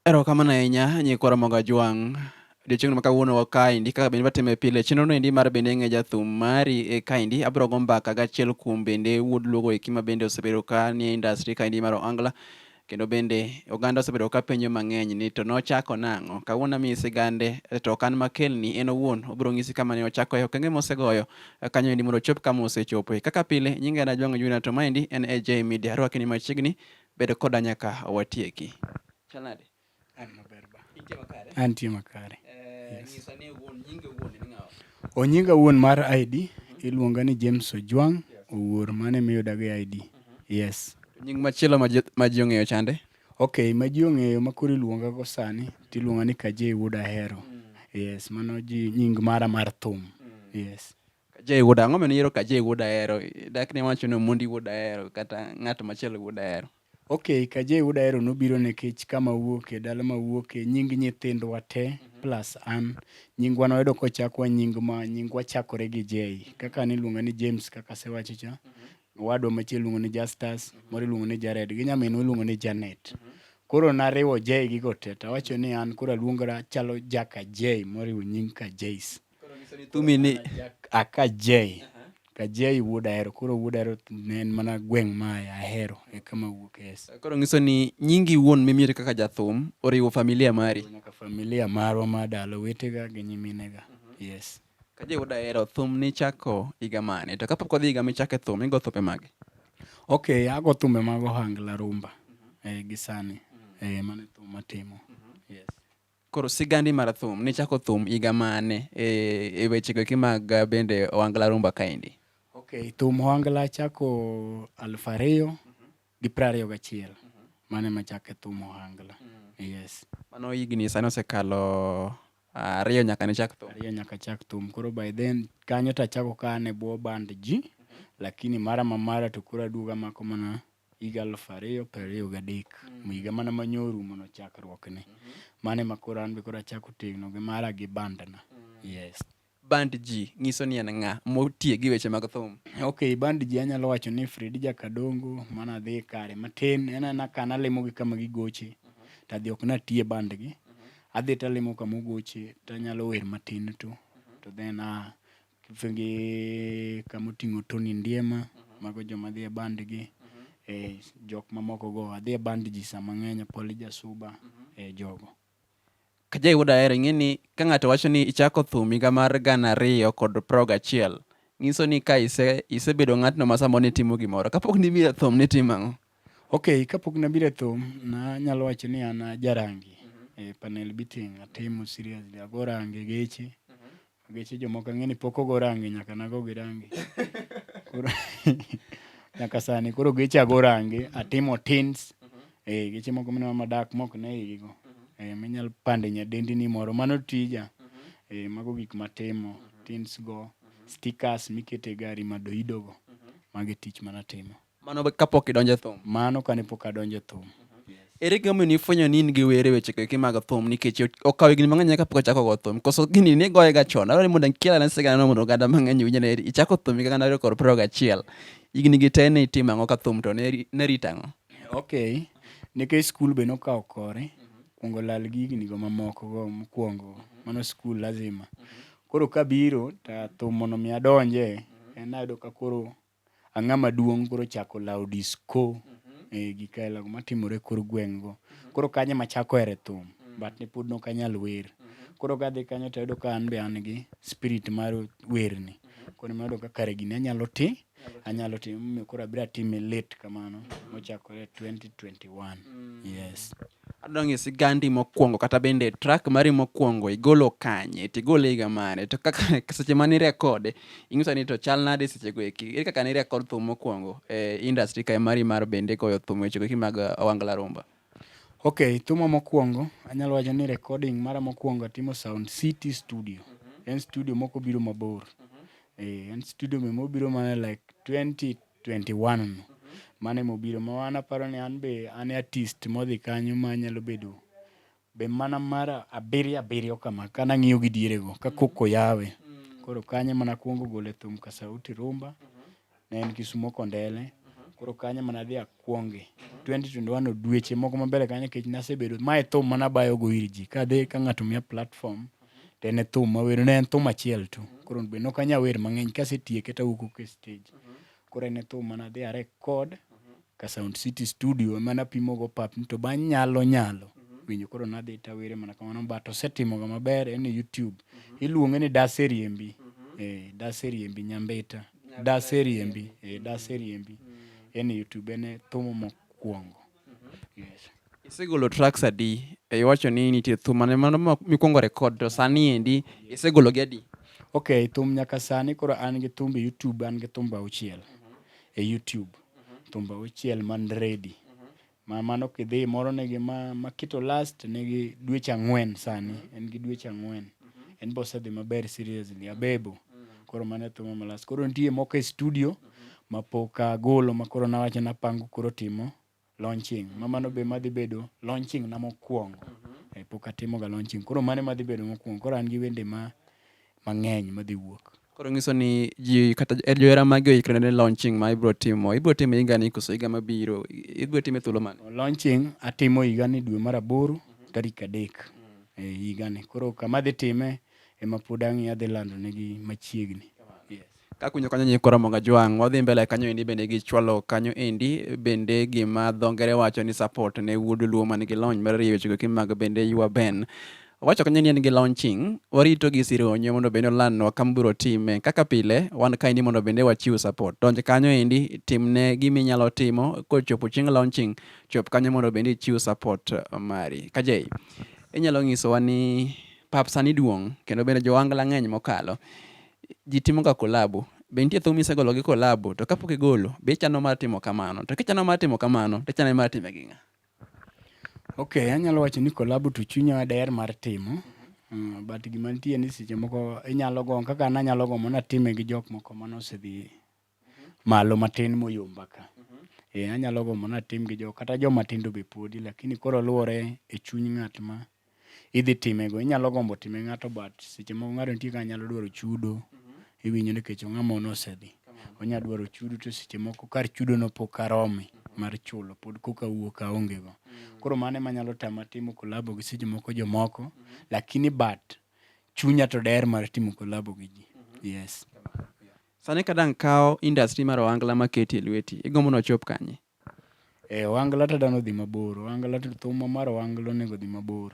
Erokamano ahinya nyikwa Ramogi Ajwang'. Odiochieng'no ma kawuono wakaendi kaka bende watime pile chenrono endi mar bende ng'e jathum mari e kaendi abiro go mbaka gachiel kuom bende wuod luogo eki ma bende osebedo ka nie industry kaendi mar Ohangla kendo bende oganda osebedo ka penjo mang'eny ni to nochako nang'o kawuono amiyi sigande to ok an makelni en owuon obiro ng'isi kama ne ochako e okenge mosegoyo kanyo endi mondo ochop kama osechopo kaka pile nyinga en Ajwang' Junior to maendi en AJ Media arwakeni machiegni Bed koda nyaka watieki. Chal nade? An maber ba. Intie makare? Antie makare. Eh, Yes. Nyisa ni wuon nyinge wuon ni ng'awa. O nyinga wuon mar ID iluonga ni James Ojwang' Owuor mane miyuda gi ID. Yes. To Nying machielo ma ji- ma ji ong'eyo chande. Okay, ma ji ong'eyo ma koro iluonga go sani tiluonga ni Kajei Wuod Ahero. Yes, mano ji nying mara mar thum. Yes. Kajay wuod ang'o mene yiero Kajay wuod ahero dak ne wacho ni Omondi wuod ahero kata ng'at machielo wuod ahero ok Kajay wuod ahero nobiro nikech kama wuoke dala ma wuoke nying nyithindwa te mm -hmm. plus an nyingwa noyudo kochakwa nying ma nyingwa chakore gi J kaka niluonga ni James kaka sewacho cha mm -hmm. wadwa machielo luongo ni Justus mm -hmm. moro iluongo ni Jared gi nyaminwa iluongo ni Janet mm -hmm. koro nariwo J gigo te tawacho ni an koro aluongra chalo jaka J moriwo nying ka Jace thumi ni aka jay ka jay wuod ahero koro wuod ahero ne en mana gweng' ma ahero e kama wuok es koro nyiso ni nyingi wuon mimiri kaka jathum oriwo familia mari nyaka familia marwa ma dalo wetega gi nyiminega yes ka jay wuod ahero thum nichako higa mane to kapok odhi higa michake thum igo thupe mage ok ago thumbe mag ohangla rumba eh, gi sani eh, mano e thum matimo yes Koro sigandi mar thum nichako thum higa mane e, e wechego eki mag uh, bende ohangla rumba kaendi? Okay, thum ohangla chako aluf ariyo gi piero ariyo gachiel mane machake thum ohangla. Yes. Mano higni sani osekalo uh, ariyo nyaka nichak thum. Ariyo nyaka chak thum. Koro by then kanyo tachako ka an e bwo band ji lakini mara ma mara to koro aduogo amako mana higa aluf ariyo piero ariyo gadek mm. higa mana ma nyo orumono chakruokne mm -hmm. mane ma koro an be koro achako tegno gi mara gi bandna mm. yes band ji nyiso ni en ng'a motiye gi weche mag thum ok band ji anyalo wacho ni fredi jakadongo mana dhi kare matin en ana ka nalimo gi kama gigoche mm -hmm. tadhi ok natiye bandgi mm -hmm. adhi talimo kama ogoche tanyalo wer matin to mm -hmm. to then uh, Kidhi gi kama oting'o Tony Ndiema, mago joma dhi e band gi. Eh, jok mamoko go, adhi e band ji sama ng'eny, Apoli Jasuba, eh, jogo. Ka jayudo aher, ing'e ni ka ng'ato wacho ni ichako thum higa mar gana ariyo kod prago gachiel, ng'iso ni ka ise, isebedo ng'atno ma samoro nitimo gimoro. Kapok nibiro e thum, nitimo ang'o? Ok, kapok nabiro e thum, nanyalo wacho ni an ajarangi. Eh, panel beating, atimo seriously, ago rangi geche. Geche jomoko ang'e ni pok ogo rangi nyaka nago gi rangi. Koro nyaka sani koro geche ago rangi atimo tins. Eh geche moko mineno madak mok ne igi go. Eh minyal pande nyadendi ni moro mano tija. Eh mago gik matimo tins go stickers mikete gari madoido go. Magi tich manatimo. Mano kapok idonjo e thum. Mano kane pok adonjo e thum. Ere gima omiyo nifwenyo ni in gi were weche keki mag thum nikech okawo higni mang'eny nyaka pok achako go thum. Koso gini ne goye ga chon. Adwaro ni mondo akel ane sigana mondo oganda mang'eny owinj ni ichako thum higa gana ariyo kod piero gachiel. Higni gi te ne itimo ang'o ka thum to ne rito ang'o? Okay. Nikech skul be nokawo kore, kuongo lal gi higni go mamoko go mokuongo. Mano skul lazima. Koro kabiro to thum mondo mi adonje, en ayudo ka koro ang'a maduong' koro chako lawo disco eh, gi kaela go matimore kor gweng' go koro kanyo ema chako ere thum but ne pod nok anyal wer koro kadhi kanyo to ayudo ka an be an gi spirit mar werni koro ema ayudo ka kare gini anyalo ti anyalo ti momiyo koro abiro atime late kamano mochakore 2021 yes adwa ng'e sigandi mokwongo kata bende track mari mokwongo igolo kanye to igole higa mane to kaka seche mane irekode ing'iso ni to chal nade sechego eki ere kaka ne irekod thum mokwongo e industry kae mari mar bende goyo thum wechego eki mag uh, Owangla Rumba ok thuma mokwongo anyalo wacho ni recording mara mokwongo atimo sound city studio mhm. en studio moko biro mabor mhm. eh, en studio me mobiro mana like 20 21 no. Mano ema obiro ma an aparo ni an be an e artist modhi kanyo ma nyalo bedo be mana mar abiriyo abiriyo kama ka nang'iyo gi diere go ka koko yawe. Koro kanyo mana kuongo gole thum ka sauti rumba ne en Kisumo Kondele. Koro kanyo mana dhi akwonge. 2021 odweche moko mabele kanyo kech nasebedo mae thum mana bayo go ir ji kadhi ka ng'ato miya platform to en e thum mawero ne en thum achiel tu koro be nok anya wer mang'eny kasetieke tawuok oko e stage koro en e thum mana dhi are kod ka sound city studio mana pimo go pap to ba nyalo nyalo winjo koro nadhi tawere mana kamano but osetimo ga maber en e youtube iluonge ni dase riembi eh dase riembi nyambita dase riembi eh dase riembi en e youtube en e thum mokwongo Isegolo tracks adi? E, iwacho ni nitie thum mane mano mikwongo record to sani endi isegolo gi adi? Okay, thum nyaka sani koro an gi thumbe YouTube, an gi thumbe auchiel e YouTube. Thumbe auchiel man ready. Ma mano kidhi moro nigi ma, ma Kito Last nigi dweche ang'wen sani, en gi dweche ang'wen. En bosedhi maber seriously, Abebo. Koro mano e thuma ma last. Koro nitie moko e studio. mapok agolo makoro nawacho napango koro timo launching ma mano be madhi bedo launching na mokwongo Eh, pok atimoga launching koro mano madhi bedo mokwongo koro an gi wende ma mang'eny madhi wuok koro ng'iso ni ji kata eh, johera magi oikre ne launching ma ibro timo ibro timo higa ni koso higa mabiro I- ibro time thuolo mane launching atimo higa ni dwe mar aboro tarik adek e higa ni koro kama adhi time ema pod ang'i adhi lando negi machiegni Kakunyo kanyo nyiko Ramogi Ajwang', wadhi mbele kanyo endi bende gichwalo kanyo endi bende gima dho ngere wacho ni support ne wuod Luo man gi lony mar rieyo wechego kimag bende ywa Ben. Wacho kanyo ni en gi launching, warito gi sironyo mondo bende olandnwa kama biro time. Kaka pile, wan ka endi mondo bende wachiw support. Donj kanyo endi, timne gima inyalo timo, kochopo chieng' launching, chop kanyo mondo bende ichiw support mari. Kajei, inyalo nyisowa ni pap sani duong' kendo bende jo Wangla ng'eny mokalo. ji timoga kolabo. Be nitie thum misegolo gi kolabo? To kapok igolo, be ichano mar timo kamano? To kichano mar timo kamano, to ichano mar time gi ng'a? Ok, anyalo wacho ni kolabo to chunya daher mar timo. Mm, but gima nitie ni seche moko inyalo go kaka nanyalo go mana time gi jok moko manosedhi malo matin moyomba ka. Eh, anyalo gombo natim gi jo kata joma tindo be podi lakini koro luwore e chuny ng'at ma idhi time go. Inyalo gombo time ng'ato but seche moko ng'ato nitie kaka nyalo dwaro chudo. Iwinjo ni kech ng'ama ono osedhi. Onya dwaro chudo to seche moko kar chudo no pok arome mar chulo pod koka wuok aonge go. Koro mano ema nyalo tama timo kolabo gi seche moko jomoko lakini but chunya to der mar timo kolabo gi ji. Yes. Sani ka dang' kawo industry mar ohangla ma keti e lweti, igombo ni ochop kanye? Eh, ohangla to dang' odhi mabor. Ohangla to thumwa mar ohangla onego odhi mabor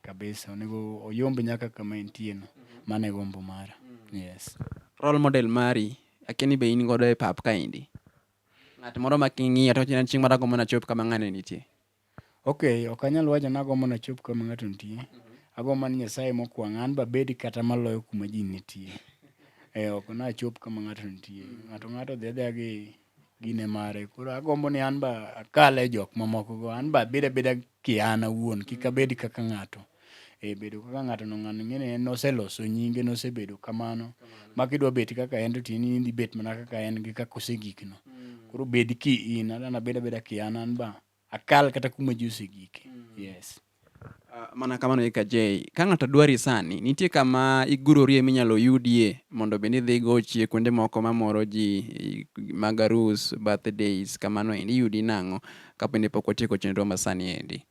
kabisa. Onego oyomb nyaka kama entie no. Mano e gombo mara. Yes. Role model mari, akia ni be in godo e pap kaendi. Ng'at moro ma king'iyo to wacho ni chieng' moro agombo ni achop kama ng'ani nitie. Okay, ok anyal wacho ni agombo ni achop kama ng'ato nitie. Agombo ni Nyasaye mokwang' an babed kata maloyo kuma ji nitie. Eh, ok nachop kama ng'ato nitie. Ng'ato ng'ato odhi adhiya gi gine mare. Koro agombo ni an ba akal e jok mamokogo. An ba abed abeda ki an awuon, kik abed kaka ng'ato. e bedo kaka ng'ato no ng'ano ing'e ni en noseloso nyinge nosebedo kamano ma kidwa bet kaka en to tin in idhi bet mana kaka en gi kaka osegikno mm. koro bed ki in an abeda beda ki an an ba akal kata kuma ji osegike mm. yes ah, mana kamano eka jay ka ng'ato dwari sani nitie kama igurorie minyalo yudie mondo bende idhi gochie kuonde moko mamoro ji magarus birthdays kamano endi iyudi nang'o kapende pok otieko chenro masani endi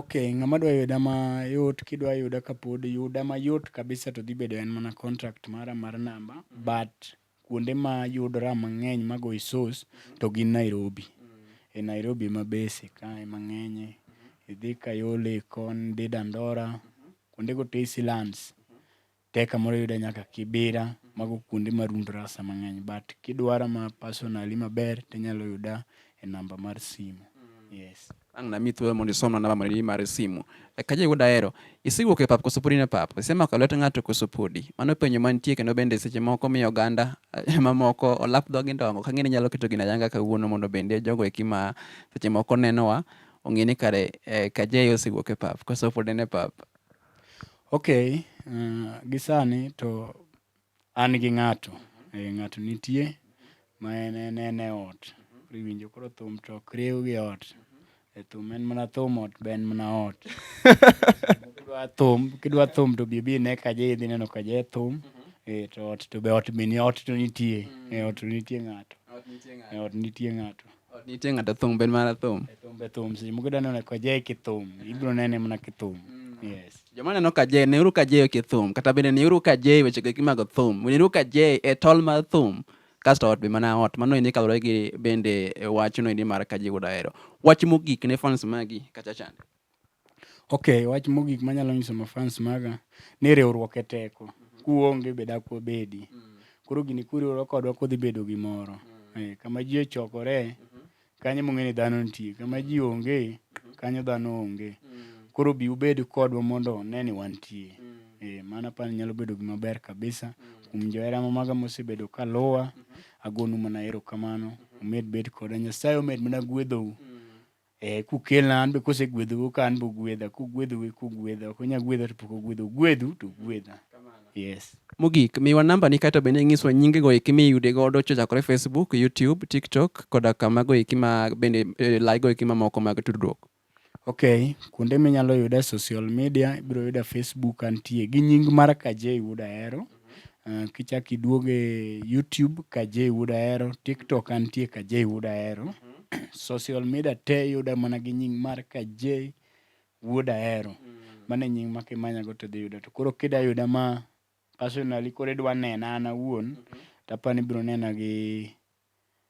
Ok, ng'ama dwa yuda mayot kidwa yuda kapod yuda mayot kabisa to dhi bedo en mana contact mara mar namba but kuonde ma yudora mang'eny ma goyi source to gin Nairobi. E Nairobi ema base kae mang'enye. Idhi Kayole kon, idhi Dandora, kuondego te iselands. Tek kamoro yude nyaka Kibira, mago kuonde ma room drasa mang'eny but kidwara ma personally maber tinyalo yuda e namba mar simu. Yes. Ang' nami thuolo mondo isomna namba mari mar simu. Eka jiwo daero, isewuok e pap koso podi ne pap? Isemako lwet ng'ato koso podi? Mano penjo mantie kendo bende seche moko miyo oganda eh, mamoko olap dhogi ndongo. Kang'eni nyalo keto gina yanga kawuono mondo bende jogo eki ma seche moko nenowa ong'e ni kare eh, Kajeyo osewuok e pap koso podi ne pap. Ok, uh, gisani to an gi ng'ato e, ng'ato nitie ma en en en e ot iwinjo koro thum to ok riw gi ot e thum en mana thum ot be en mana ot kidwa thum kidwa thum to bi bi ne kaje idhi neno kaje thum e, to ot to be ot be ni ot to nitie e, ot to nitie ng'ato e, ot nitie ng'ato Ot nitie ng'ato thum ben mana thum. E thum be thum si mugo dano ne kwaje ki thum. Ibro nene mana ki thum. Mm. Yes. Joma neno ka je ne uru ka je ki thum kata bende ne uru ka je weche gi mago thum. Ne uru ka je e tol mar thum. Kasto ot be mana ot mano ni kalore gi bende e wachno ni mar ka je gudaero. Wach mogik ne fans magi kacha chande. Ok, wach mogik manyalo nyiso mafans maga ni riwruok e teko. Kuonge be dak wabedi. Koro gini kuriwore kodwa kodhi bedo gimoro. Eh, kama ji ochokore, kanyo mong'e ni dhano nitie. Kama ji onge, kanyo dhano onge. Koro bi ubed kodwa mondo ne ni wantie. Eh, mano apani nyalo bedo gima ber kabisa. Kuom johera ma maga mosebedo ka luwa, agonu mana erokamano. Umed bet koda. Nyasaye omed mana gwedhou. Eh, kukelna an be kosegwedhou ka an be ogwedha, kogwedhou e kogwedha, ok onya gwedha to pok ogwedha, ogwedhu to ogwedha. Yes. Mogik, miwa namba ni kae to bende inyiswa nyinge go eki miyude godo chochakore Facebook, YouTube, TikTok koda kama go eki ma bende e, lai go eki mamoko mag tudruok. Okay, kuonde minyalo yuda social media, ibiro yuda Facebook antie gi nying mar Kajei Wuod Ahero. Uh, kichak iduog e YouTube ka J Wood Ahero, TikTok antie ka J Wood Ahero. Social media te yuda mana gi nying mar ka J Wood Ahero. Mano e nying ma kimanyago to dhi yuda. To koro kida yuda ma personally koro idwa nena an awuon, tapani ibiro nena gi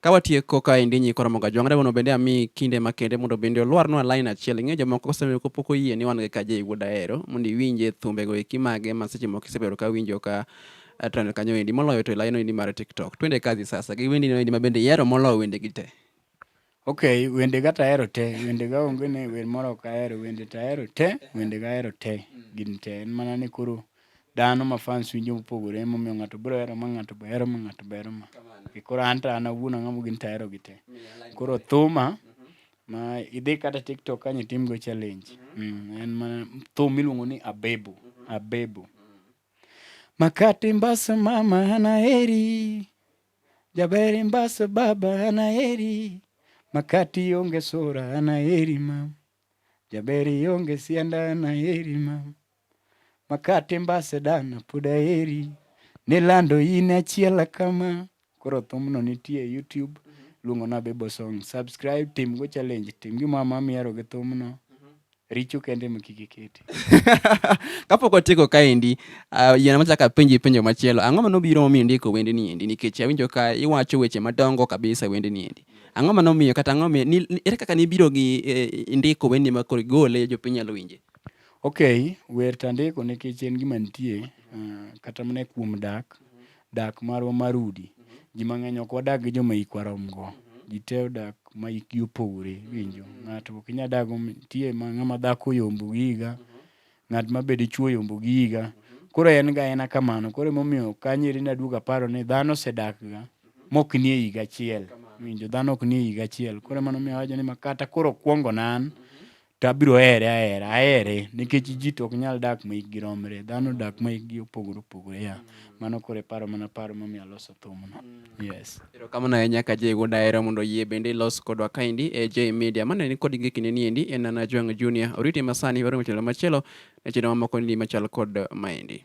Ka watieko ka endi nyi koromo ga jwangre mondo bende ami kinde makende mondo bende olwarnwa line achiel. Ing'e jomoko kosebedo ka pok oyie ni wan gi kaje wuod ahero mondo iwinje thumbe go eki mage ma seche moko isebedo ka winjo ka eh, trend kanyo endi moloyo to line endi mar TikTok. Twende kazi sasa gi wendi endi ma bende ihero moloyo wende gi te. Okay, wende ga tahero te, wende ga onge ni wer moro ok ahero, wende tahero te, wende ga ahero te, gin te. En mana ni koro dhano ma fans winjo mopogore emomiyo ng'ato biro hero ma ng'ato be hero ma ng'ato be hero ma E koro an to an awuon ang'amo gin to aherogi te koro thuma ma idhi kata tiktok kany itimgo challenge Mm, en mana thum miluongo ni abebo abebo makati mbasa mama anaheri jaberi mbasa baba anaheri makati onge sura anaheri mama jaberi onge sianda anaheri mama Makate mbase dana pod aheri nilando in achiel kama koro thumno nitie e YouTube luongo na Bebo Song subscribe tim go challenge tim gi mama miero gi thumno richo kende ma kik iketi kapok otieko kaendi uh, yiena machaka penji penjo machielo ang'o mano biro momiyo ndiko wende ni endi nikech awinjo ka iwacho weche madongo kabisa wende ni endi ang'o mano miyo kata ang'o miyo ere kaka nibiro gi eh, ndiko wende ma koro igole jopiny nyalo winje Ok, wer to andiko nikech en gima nitie uh, kata mana kuom dak, dak marwa mar udi. Ji mang'eny ok wadag gi joma ikwa romgo. Ji te odak ma ikgi opogore winjo. Ng'ato ok inyal dag nitie ma ng'ama dhako yombo gi higa, ng'at ma be dichwo yombo gi higa. Koro en ga ena kamano. Koro emomiyo kanyeri naduogo aparo ni dhano osedak ga mok nie higa achiel. Winjo dhano ok nie higa achiel. Koro mano miyo awacho ni makata koro kwongo nan. Mm -hmm. to abiro here ahera ahere nikech ji to ok nyal dak ma hikgi romre dhano dak ma hikgi opogore opogore ya mano koro e paro mana paro momiyo aloso thumno yes erokamano ahinya ka jay wuod ahero mondo yie bende ilos kodwa kaendi e jay media mane ni kod gikine ni endi en nana jwang junior oriti masani waro machelo machielo ne chino mamoko ni machal kod maendi